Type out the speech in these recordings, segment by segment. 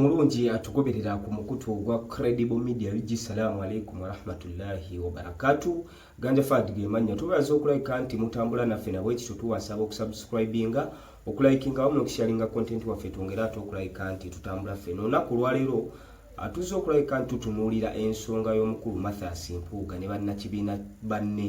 omulungi atugoberera ku mukutu ogwa credible media ug salaamu aleikum warahmatullahi wabarakatu ganja fad gemanya tubaza okulabika nti mutambula naffe nabwekityo tuwasaba okusubscribinga okulayikinga wamu nokusharinga content waffe twongere ate okulabika nti tutambula ffe nonaku olwaleero atuze okulabika nti tutunuulira ensonga y'omukulu mathas mpuuga ne bannakibiina banne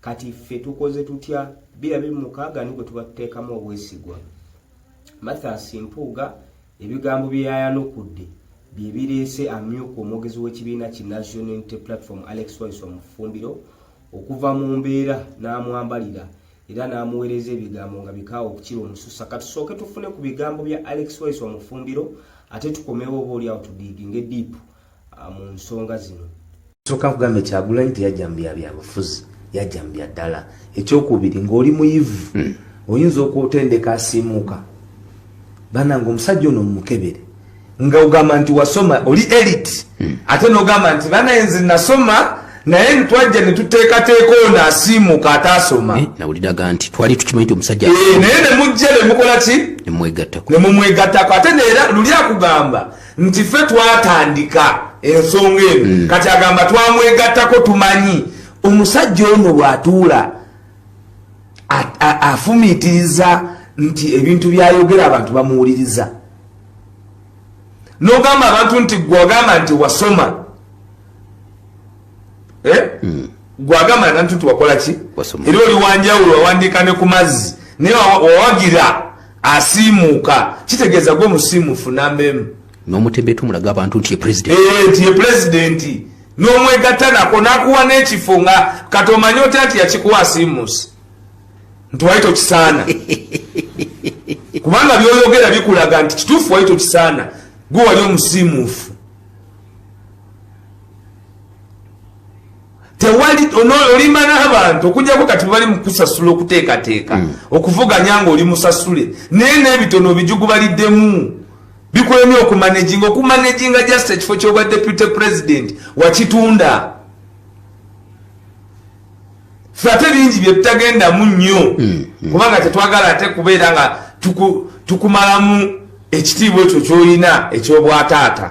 kati ffe tukoze tutya bira biri mukaaga ni gwe tuba tuteekamu obwesigwa mathas mpuuga ebigambo bye yayanukudde bye bireese amyuka omwogezi w'ekibiina ki national unity platform alex wise omufumbiro okuva mu mbeera n'amwambalira era n'amuweereza ebigambo nga bikaawa okukira omususa katusooke tufune ku bigambo bya alex wise omufumbiro ate tukomewo oba oliawo tudiiginge diipu ah, mu nsonga zino soka kugambe kyagulanyi teyajja mu byabyabufuzi yajja mu bya ddala ekyokubiri ng'oli muyivu hmm. oyinza okutendeka asiimuuka banange omusajja ono mumukebere nga ogamba nti wasoma oli elit hmm. ate nogamba nti banaye nze nasoma naye ntwajja netuteekateeka ono asiimuka ataasoma eh, nawuliraga nti twali tukimanyi ti omusajja eh, naye nemujja nemukola ki nemumwegattako ate neera luli akugamba nti ffe twatandika ensonga eno mm. kati agamba twamwegattako tumanyi omusajja ono bwatuula afumiitiriza nti ebintu byayogera abantu bamuwuliriza nogamba abantu nti gwagamba nti wasoma eh? hmm. gwagamba nanti nti wakola ki era oli wanjawulo wawandiika ne ku mazzi naye wawagira asiimuuka kitegeeza gwe musiimufu namba emu n'omutembe tumulaga abantu nti ye pulezidenti eh, nti ye pulezidenti n'omwegatta nako n'akuwa n'ekifo nga kati omanye otya nti yakikuwa asiimuusi nti wali tokisaana kubanga byoyogera bikulaga nti kituufu wali tokisaana gwe wali omusiimuufu tewali olimba n'abantu okujjako kati bali mukusasula okuteekateeka hmm. okuvuganya nga oli musasule naye n'ebitono bijugubaliddemu bikulemye okumanejinga okumanejinga just ekifo kyobwa deputy president wakitunda fe ate bingi byetutagendamu nnyo hmm, hmm. kubanga tetwagala ate kubeera nga tukumalamu ekitiibwa ekyo kyolina ekyobwataata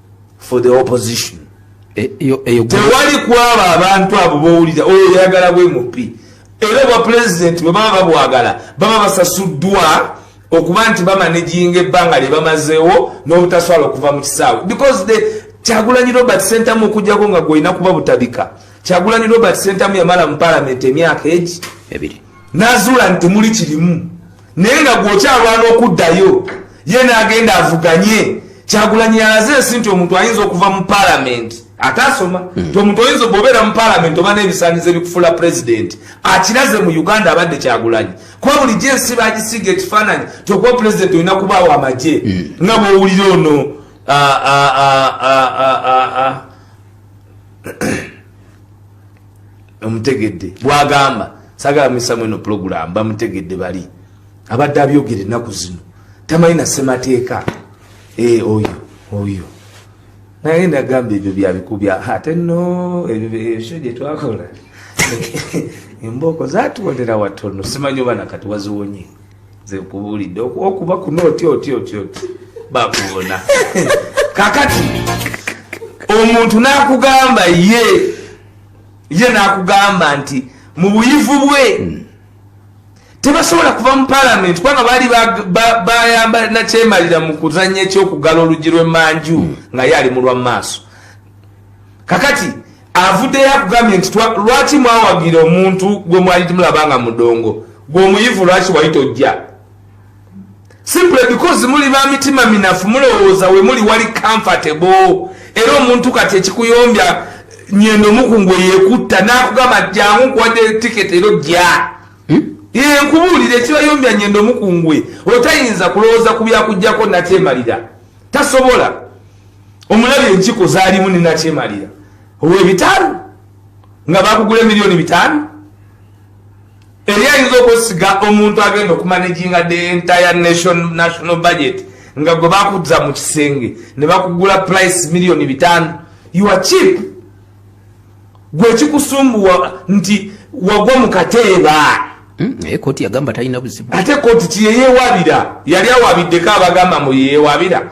for the opposition e, e, tewali kwaba abantu abo bowulira oyo oh, yayagala bwe mupi era obwa pulezidenti bwe baba babwagala baba basasuddwa okuba nti bamanejinga ebbanga lye bamazeewo n'obutaswala okuva mu kisaawe because the kyagulanyi robert sentamu okujjako nga gwolina kuba butabika kyagulanyi robert sentamu yamala mu palamenti emyaka egi n'azuula nti muli kirimu naye nga gwokyalwana okuddayo ye nagenda avuganye kyagulanyi yalaze ensi nti omuntu ayinza okuva mu palamenti ate asoma hmm. nti omuntu oyinza bwobeera mu palamenti oba n'ebisanyizo ebikufuula pulezidenti akiraze mu uganda abadde kyagulanyi kuba bulijjo ensi bagisiiga ekifaananyi nti okuba pulezidenti olina kubaawo amagye hmm. nga bwowulira ono ah, ah, ah, omutegedde bwagamba sagala muyisamu eno pulogulaamu bamutegedde bali abadde abyogera ennaku zino tamanyi na ssemateeka eh, oyo oyo naye nagamba ebyo byabikubya ate no ebyo gyetwakola embooko zatwonera watono simanyi oba nakati waziwonye nze nkubulidde okuba kuno oti oti oti oti bakubona kakati omuntu nakugamba ye ye nakugamba nti mu buyivu bwe hmm. tebasobola kuva mu palamenti kubanga baali bayamba nakyemalira mu kuzanya ekyokugala oluggi lwemanju hmm. nga ye ali mu lwa maaso kakati avuddeyo akugambye nti lwaki mwawagira omuntu gwe mwali timulaba nga mudongo gwe omuyivu lwaki wali tojja simple because muli ba mitima minafu mulowooza we muli wali comfortable era omuntu kati ekikuyombya nyendo mukungu eyekutta nakugamba jangu nkuwadde tiketi ero jja hmm? ye nkubuulire ekibayombya nyendo mukungwe otayinza kulowooza ku byakujjako nakyemalira tasobola omulabi enkiko zalimu nenakyemalira owebitaano nga bakugula emiliyoni bitaano eri ayinza okwesiga omuntu agenda okumanejinga the entire nation national budget nga gwe bakuza mu kisenge ne bakugula price miliyoni bitaano ua chip gwe kikusumbuwa nti wagwa mu kateeba hmm, naye koti yagamba talina buzibu ate koti kiyeyewabira yali awabiddeko abagamba mu yeyewabira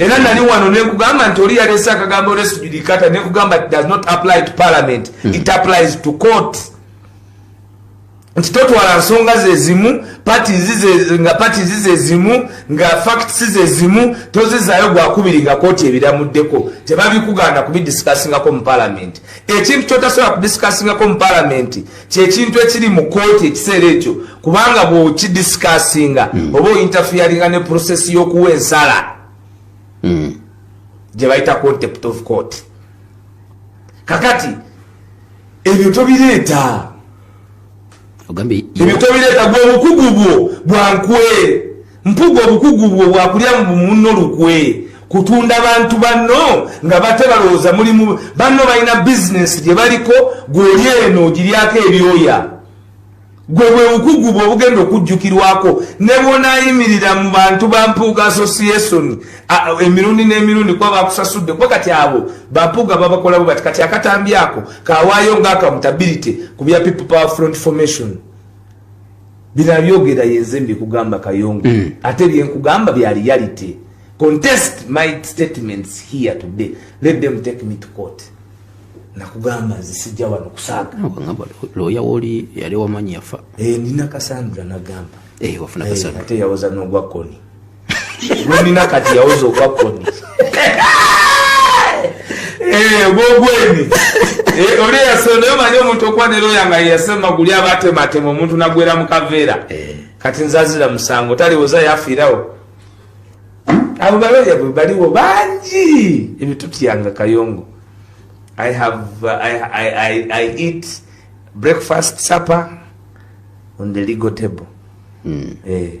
era nali wano nekugamba nti oli yalese akagambo resujudicata nekugamba does not apply to parliament mm. it applies to court nti totwala nsonga zezimu nga pati zizezimu nga facts zezimu tozizayo gwakubiri nga kooti ebiramuddeko tebabikuganda kubidisikassingako mu parliament ekintu kyotasobola kudisikassingako mu parliament kyekintu ekiri mu kooti ekiseera ekyo kubanga bwokidisikasinga mm. oba ointafiyaringa ne process yokuwa ensala mm. gyebayita contept of court kakati ebyo tobireeta ebyo tobireeta gwe obukugu bwo bwankwe Mpuga obukugu bwo bwakulya muno lukwe kutunda bantu banno nga bate balowooza mulimu banno balina bizinensi gye baliko gwoli eno ogiryako ebyoya gwe bwe bukugu bwe obugenda okujjukirwako ne bwonayimirira mu bantu ba mpuuga association emirundi n'emirundi kuba bakusasudde kuba kati abo bampuuga babakolabo bati kati akatambi ako kawaayo nga accountability ku bya people power front formation Bino abyogera yenze mbikugamba Kayongo mm. ate byenkugamba bya reality. Contest my statements here today. Let them take me to court. Nakugamba nze sijja wano kusaaga. Nakugamba looya woli yali wamanyi yafa. Eh, nina Cassandra nagamba. Eh, wafuna eh, Cassandra. Eh, ate yawoza n'ogwa koni. Lumina kati yawoza okwa koni. Eh, gogweni. Eh, oli yasonda yo manyo omuntu okwa nero yanga yasema guli abate matemo omuntu nagwera mu kavera. Eh. Kati nzazira musango tali woza yafirawo. Abo balo ya bali wo banji. Ebi tuti yanga kayongo. I have uh, I, I I I eat breakfast supper on the legal table. Mm. Eh.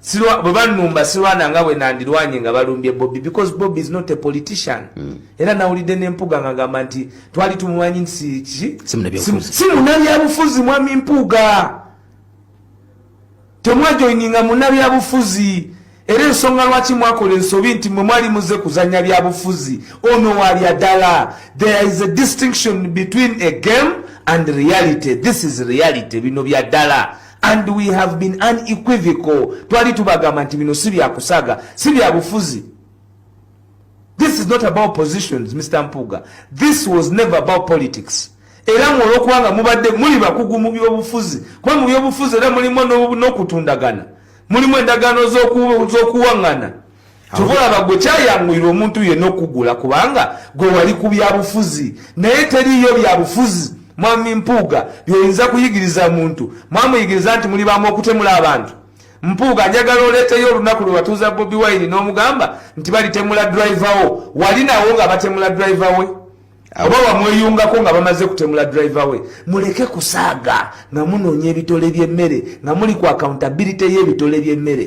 silwa bwe banumba silwana nga bwe nandirwanye nga balumbye bobi because bobi is not a politician mm. era nawulidde nempuga nga gamba nti twali tumumanyi nti kiki si munabyabufuzi mwami mpuga temwajoininga munabyabufuzi era ensonga lwaki mwakola ensobi nti mwe mwali muze kuzanya byabufuzi ono walya ddala there is a distinction between a game and reality this is reality bino bya ddala and we have been unequivocal twali tubagamba nti bino si byakusaga si byabufuzi this is not about positions mr mpuga this was never about politics era mwe olwokubanga mubadde muli bakugu mu byobufuzi kuba mu byobufuzi era mulimu n'okutundagana mulimu endagaano z'okuwaŋŋana tubulaba gwe kyayanguyira omuntu yenna okugula kubanga gwe wali ku byabufuzi naye teriiyo byabufuzi mwami mpuuga byoyinza kuyigiriza muntu mwamuyigiriza nti muli bamu okutemula abantu mpuuga njagala oleeteyo olunaku lwe batuuza bobi wine n'omugamba nti balitemula drive wo wali nawo nga batemula drive we oba wamweyungako nga bamaze kutemula drive we muleke kusaaga nga munoonya ebitole by'emmere nga muli ku accountability y'ebitole by'emmere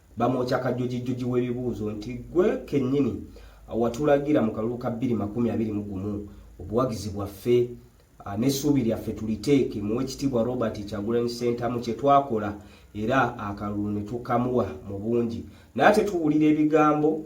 bamwokya kajojijjoji w'ebibuuzo nti ggwe kennyini watulagira mu kalulu ka bbiri makumi abiri mu gumu obuwagizi bwaffe ah, n'essuubi lyaffe tuliteeke mu wekitiibwa robert kyagulanyi ssentamu kye twakola era akalulu ne tukamuwa mu bungi naye ate tuwulira ebigambo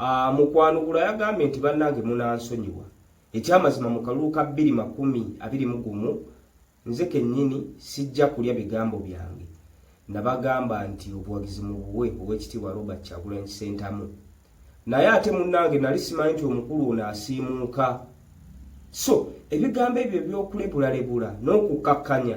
Ah, mu kwanukula yagambye nti bannange munansonyiwa ekyamazima mu kalulu ka bbiri makumi abiri mu gumu nze kennyini sijja kulya bigambo byange nabagamba nti obuwagizi mu buwe ow'ekitiibwa robert kyagulanyi sentamu naye ate munnange nali simanyi nti omukulu ono asiimuuka so ebigambo ebyo ebyokulebulalebula n'okukkakkanya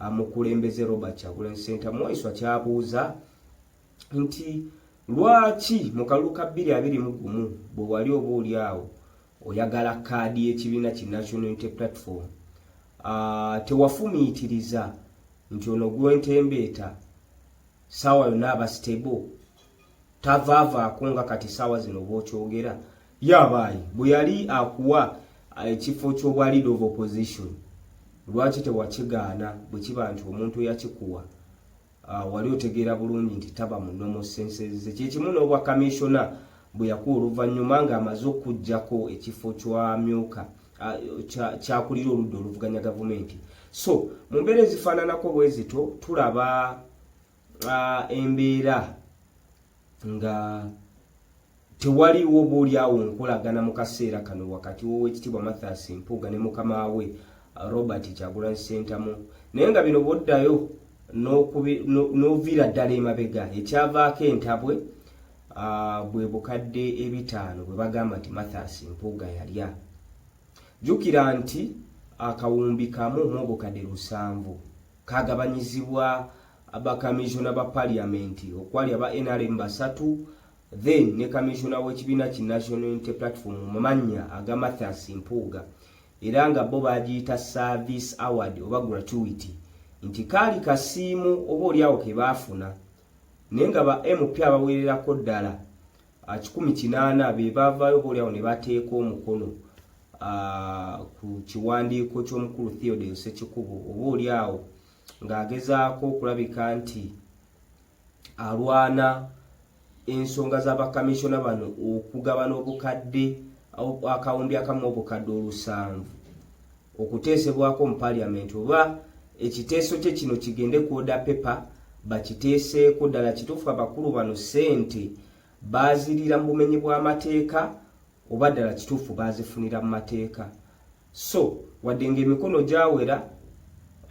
amukulembeze Robert Kyagulanyi Ssentamu Waiswa kyabuuza nti lwaki mu kalulu ka bbiri abiri mu gumu bwe wali oba oli awo oyagala kaadi y'ekibiina ki National Unity Platform ah, tewafumiitiriza nti ono gwentembeeta saawa yonna aba stable tavaavaako nga kati saawa zino bwokyogera yabaayi bwe yali akuwa eh, ekifo ky'obwa lead of opposition lwaki tewakigaana bwe kiba nti omuntu eyakikuwa ah, wali otegeera bulungi nti taba mu nomo senseze kyekimu n'obwa kamishona bwe yakuwa oluvannyuma ng'amaze okugjako ekifo kyamyuka ah, kyakulira oludda oluvuganya gavumenti so mu mbeera ezifaananako bwezito tulaba uh, embeera nga tewaliwo boolyawo nkolagana mu kaseera kano wakati w'owekitiibwa mathas mpuuga ne mukama we uh, robert kyagulanyi sentamu naye nga bino boddayo n'oviira ddala emabega ekyavaako entabwe uh, bwe bukadde ebitaano bwe bagamba nti mathas mpuuga yalya jjukira nti akawumbi kamu mu obukadde lusanvu kagabanyizibwa aba kamisona ba parliament okwali aba nrm basatu then ne kamisona w'ekibiina ki national unity platform mu mannya aga mathias mpuuga era nga bo bagiyita service award oba gratuity nti kaali kasiimu oba olyawo ke baafuna naye nga ba mp abaweererako ddala ah, kikumi kinaana be baavaayo boolyawo ne bateeka omukono ah, ku kiwandiiko ky'omukulu Theodore Nsekikubo oba olyawo ng'agezaako okulabika nti alwana ensonga za bakamissiona bano okugabana obukadde akawumbi akamu obukadde olusanvu okuteesebwako mu parliament oba ekiteeso kye kino kigende ku order paper bakiteeseeko ddala kituufu abakulu bano ssente baazirira mu bumenyi bw'amateeka oba ddala kituufu baazifunira mu mateeka so wadde ng'emikono gyawera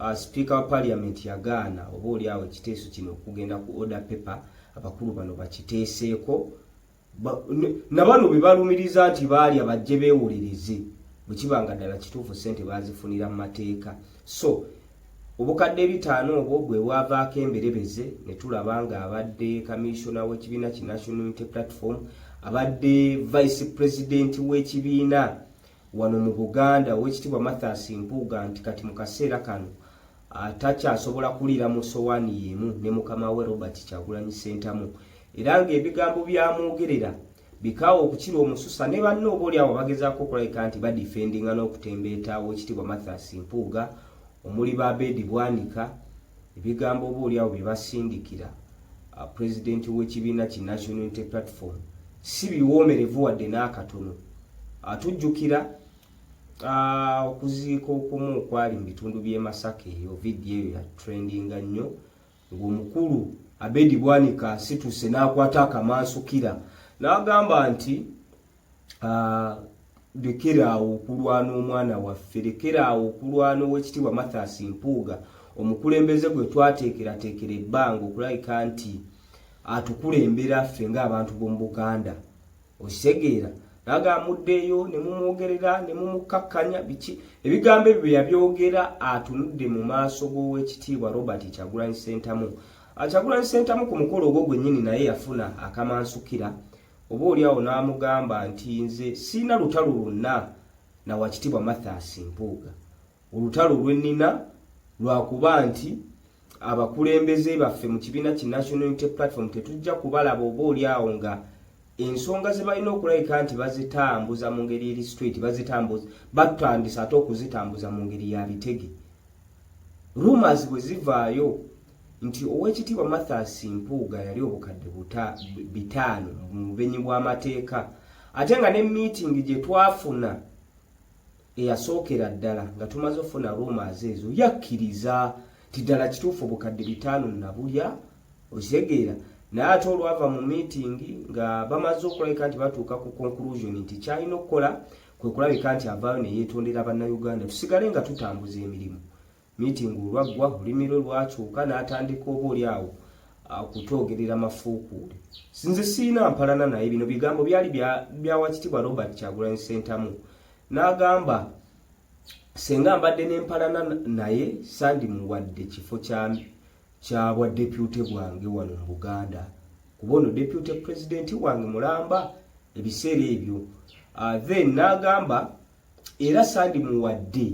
uh, sipiika wa parliament yagaana oba oli awo ekiteeso kino okugenda ku order paper abakulu bano bakiteeseeko na bano be balumiriza nti baalya bajje beewolereze bwe kiba nga ddala kituufu ssente baazifunira mu mateeka so obukadde ebitaano obwo bwe bwavaako emberebeze ne tulaba ng'abadde kamissiona w'ekibiina ki national unity platform abadde vice president w'ekibiina wano mu buganda ow'ekitiibwa mathas mpuuga nti kati mu kaseera kano atakyasobola kuliira mu sowaani y'emu ne mukama we Robert Kyagulanyi Ssentamu era ng'ebigambo byamwogerera bikaawa okukira omususa ne banne oba oli awo bagezaako okulabika nti badifendinga n'okutembeeta ow'ekitiibwa Mathias Mpuuga omuli ba Abedi Bwanika ebigambo oba oli awo bye basindikira uh, pulezidenti w'ekibiina ki National Unity Platform si biwoomerevu wadde n'akatono atujjukira uh, Ah, okuziika okumu okwali mu bitundu by'e Masaka eyo vidiyo eyo ya trendinga nnyo ng'omukulu Abedi Bwanika asituse n'akwata akamansukira n'agamba nti ah, lekera awo okulwana omwana waffe lekera awo okulwana ow'ekitiibwa Mathias Mpuuga omukulembeze gwe twateekerateekera ebbanga okulabika nti atukulembera ffe ng'abantu b'omu Buganda okitegeera naga amuddeeyo ne mumwogerera ne mumukkakkanya biki ebigambo ebyo bye yabyogera atunudde mu maaso g'owekitiibwa robert kyagulanyi sentamu akyagulanyi ah, sentamu ku mukolo ogwo gwennyini naye yafuna akamansukira oba oli awo n'amugamba nti nze siina lutalo lwonna na wakitiibwa mathas mpuuga Olutalo lwe nnina lwakuba nti abakulembeze baffe mu kibiina ki National Unity Platform tetujja kubalaba oba oli awo nga ensonga ze balina okulabika nti bazitambuza mu ngeri eri straight bazitambuza batandisa ate okuzitambuza mu ngeri ya bitege rumors bwe zivaayo nti owekitiibwa Mathias Mpuuga yali obukadde buta bitaano mu bubenyi bw'amateeka ate nga ne meeting gye twafuna eyasookera ddala nga tumaze ofuna rumas ezo yakkiriza ti ddala kituufu obukadde bitaano nabulya okitegeera naye ate olwava mu miitingi nga bamaze okulabika nti batuuka ku conclusion nti kyalina okukola kwe kulabika nti avaayo ne yeetondera bannayuganda tusigale nga tutambuza emirimu Miitingi olwaggwa, olulimi lwe lwakyuka n'atandika oba oli awo kutwogerera mafuukuule. Nze sirina mpalana naye, bino bigambo byali bya Wakitiibwa Robert Kyagulanyi Ssentamu. N'agamba senga mbadde n'empalana naye sandimuwadde kifo kya bwaddepyute bwange wano mu Buganda kuba ono depute pulezidenti wange mulamba ebiseera ebyo uh, then n'agamba era sandimuwadde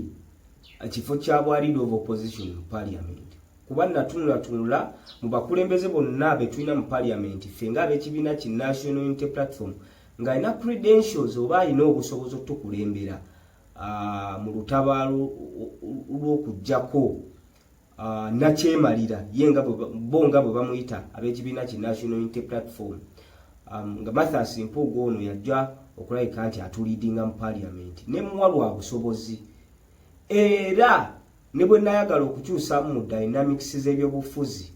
ekifo kya bwa leader of opposition mu parliament kuba natunulatunula mu bakulembeze bonna betulina mu parliament ffe nga ab'ekibiina ki national unity platform ng'alina credentials oba alina obusobozi otukulembera ah, mu lutabaalo lw'okugyako Uh, nakyemalira ye nga bo nga bwe bamuyita ab'ekibiina ki national unity platform um, nga mathas mpuuga ono yajja okulabika nti atulidinga mu paliamenti ne muwa lwa busobozi era ne bwe nayagala okukyusamu mu dynamics z'ebyobufuzi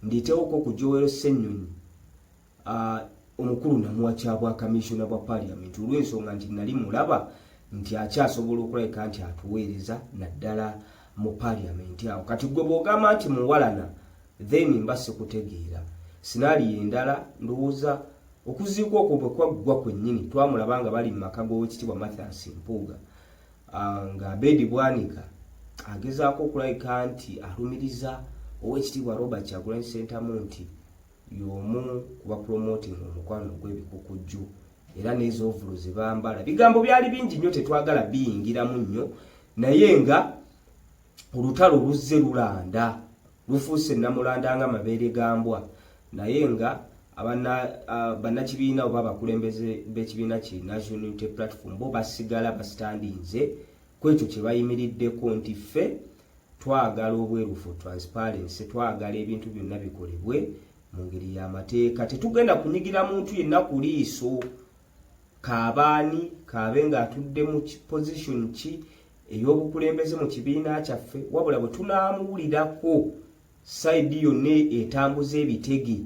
nditeewoko ku jowero ssenyonyi Uh, omukulu namuwa kya bwa kamisona bwa parliament olw'ensonga nti nali mulaba nti akyasobola okulabika nti atuweereza naddala mu parliament awo kati gwe bw'ogamba nti muwalana then mba sikutegeera sinaali endala ndowooza okuziika okwo bwe kwaggwa kwennyini twamulaba nga bali mu maka g'owekitiibwa mathias mpuuga ah, nga abedi bwanika agezaako okulabika nti alumiriza owekitiibwa robert kyagulanyi sentamu nti y'omu ku bapromotinga omukwano ogw'ebikukujju era n'ezoovulu ze bambala bigambo byali bingi nnyo tetwagala biyingiramu nnyo naye nga olutalo luzze lulanda lufuuse namulanda nga mabeere gambwa naye nga bannakibiina oba abakulembeze b'ekibiina ki national unity platform bo basigala basitandinze kwekyo kye bayimiriddeko nti ffe Twagala obwerufu, transparency, twagala ebintu byonna bikolebwe mu ngeri y'amateeka. Tetugenda kunyigira muntu yenna ku liiso kaabaani kaabe ng'atudde mu position ki ey'obukulembeze mu kibiina kyaffe, wabula bwe tunaamuwulirako sayidi yonna etambuza ebitege,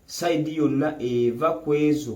sayidi yonna eva ku ezo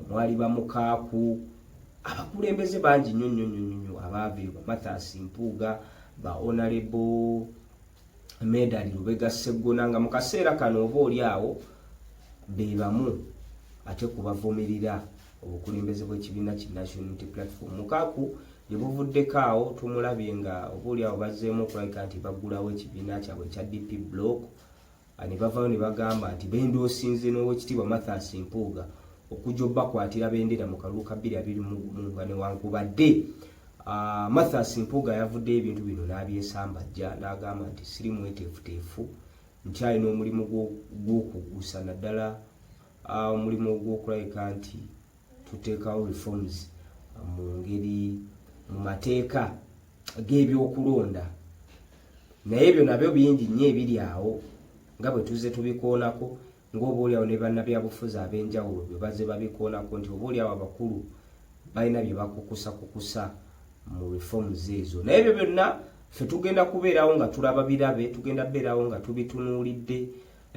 omwali bamukaaku abakulembeze bangi nnyo nnyo nnyo nnyo abaaviirwa bamathas mpuuga ba onalebo medali lubega sseggona nga mu kaseera kano oba oli awo be bamu ate kubavumirira obukulembeze bw'ekibiina ki national unity platform mukaaku gye buvuddeko awo tumulabye nga oba oli awo bazzeemu okulabika nti baggulawo ekibiina kyabwe ekya dp block ne bavaayo ne bagamba nti bendoosinze n'owekitiibwa Mathias Mpuuga okujja obakwatira bendera mu kalulu ka bbiri abiri mu nga newankubadde ah, Mathias Mpuuga yavudde ebintu bino n'abyesambajja n'agamba nti siri mweteefuteefu nkyalina omulimu gw'okugusa naddala ah, omulimu ogw'okulabika nti tuteekawo reforms ah, mu ngeri mu mateeka g'ebyokulonda naye ebyo nabyo bingi nnyo ebiri awo nga bwe tuzze tubikoonako ng'oboolyawo ne bannabyabufuzi ab'enjawulo bwe bazze babikoonako nti oboolyawo abakulu balina bye bakukusakukusa mu reforms ezo naye ebyo byonna ffe tugenda kubeerawo nga tulaba birabe tugenda kubeerawo nga tubitunuulidde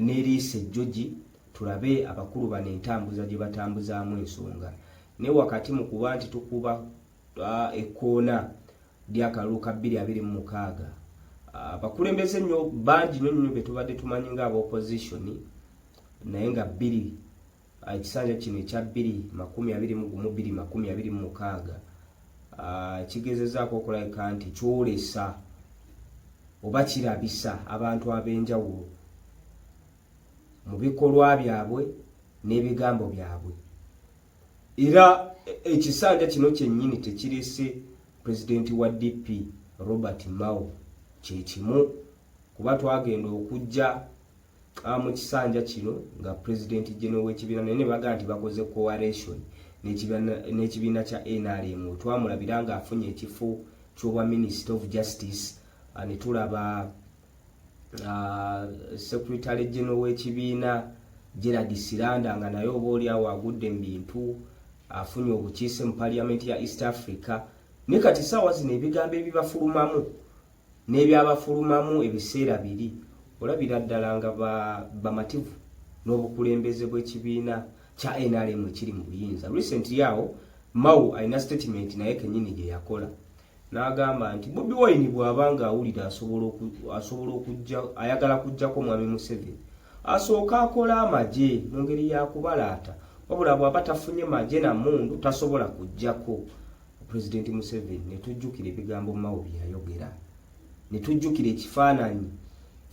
n'eriisa ejjogi tulabe abakulu bano entambuza gye batambuzaamu ensonga naye wakati mu kuba nti tukuba ekkoona ly'akalulu ka bbiri abiri mu mukaaga abakulembeze ah, nnyo bangi nyo nyo betubadde tumanyi nga aba opposition naye nga bbiri ah, ekisanja kino ekya bbiri makumi abiri mu gumu bbiri makumi abiri mu mukaaga ah, kigezezaako okulabika nti kyolesa oba kirabisa abantu ab'enjawulo mu bikolwa byabwe n'ebigambo byabwe era ekisanja kino kyennyini tekirese pulezidenti wa DP Robert Mao kye kimu kuba twagenda okujja ah, mu kisanja kino nga pulezidenti geno w'ekibiina naye ne bagamba nti bakoze coalition n'ekibiina kya NRM twamulabira ng'afunye ekifo ky'obwa minisita of justice ah, ne tulaba Ah, secretary general w'ekibiina Gerald Siranda nga naye oba oli awo agudde mu bintu afunye obukiise mu parliament ya East Africa ne kati saawa zino ebigambo ebibafulumamu n'ebyabafulumamu ebiseera biri olabira ddala nga bamativu ba n'obukulembeze bw'ekibiina kya NRM ekiri mu buyinza recently awo Mao alina statement naye kenyini gye yakola N'agamba nti Bobi Wine bw'aba ng'awulira asobola okujja ayagala kujjako Mwami Museveni asooke akole amagye mu ngeri ya kubalaata wabula bw'aba tafunye magye na mmundu tasobola kujjako Pulezidenti Museveni ne tujjukira ebigambo Mao bye yayogera ne tujjukira ekifaananyi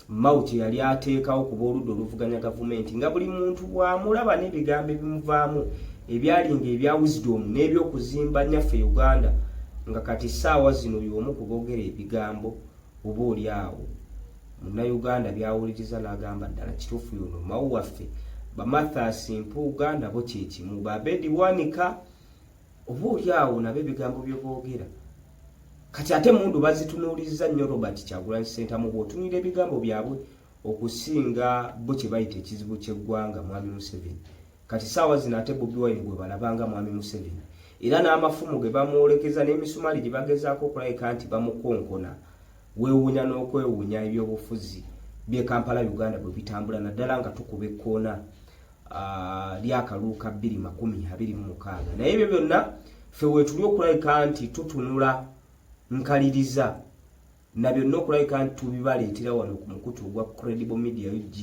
Mao kye yali ateekawo ku b'oludda oluvuganya gavumenti nga buli muntu bw'amulaba n'ebigambo ebimuvaamu ebyali ng'ebya wisdom n'ebyokuzimba nyaffe Uganda nga kati ssaawa zino y'omu ku boogera ebigambo oba oli awo munnayuganda by'awuliriza n'agamba ddala kituufu yono Mao waffe. Bamathasi Mpuuga nabo kye kimu, ba Abedi Bwanika oba oli awo nabo ebigambo bye boogera kati ate mundu bazitunuulizza nnyo robert kyagulanyi ssentamu bw'otunulira ebigambo byabwe okusinga bo kye bayita ekizibu ky'eggwanga mwami museveni kati saawa zino ate bobi wine gwe balabanga mwami museveni era n'amafumu ge bamwolekeza n'emisumaali gye bagezaako okulabika nti bamukonkona weewuunya n'okwewuunya ebyobufuzi by'e kampala uganda bwe bitambula naddala nga tukuba ekkoona ah, lyakalulu ka bbiri makumi abiri mu mukaaga naye ebyo byonna ffe wetuli okulabika nti tutunula nkaliriza na byonna okulabika nti tubibaleetera wano ku mukutu ogwa credible media ug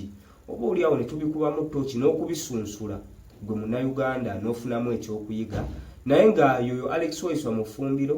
oba oliawo ne tubikubamu tooki n'okubisunsula gwe munnayuganda n'ofunamu ekyokuyiga naye nga yoyo alex waiswa mufumbiro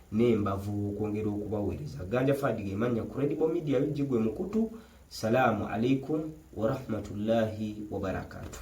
n'embavu okwongera okubaweereza ganja fadi gemannya credible media ug gwe mukutu salaamu alaikum warahmatullahi wabarakatuh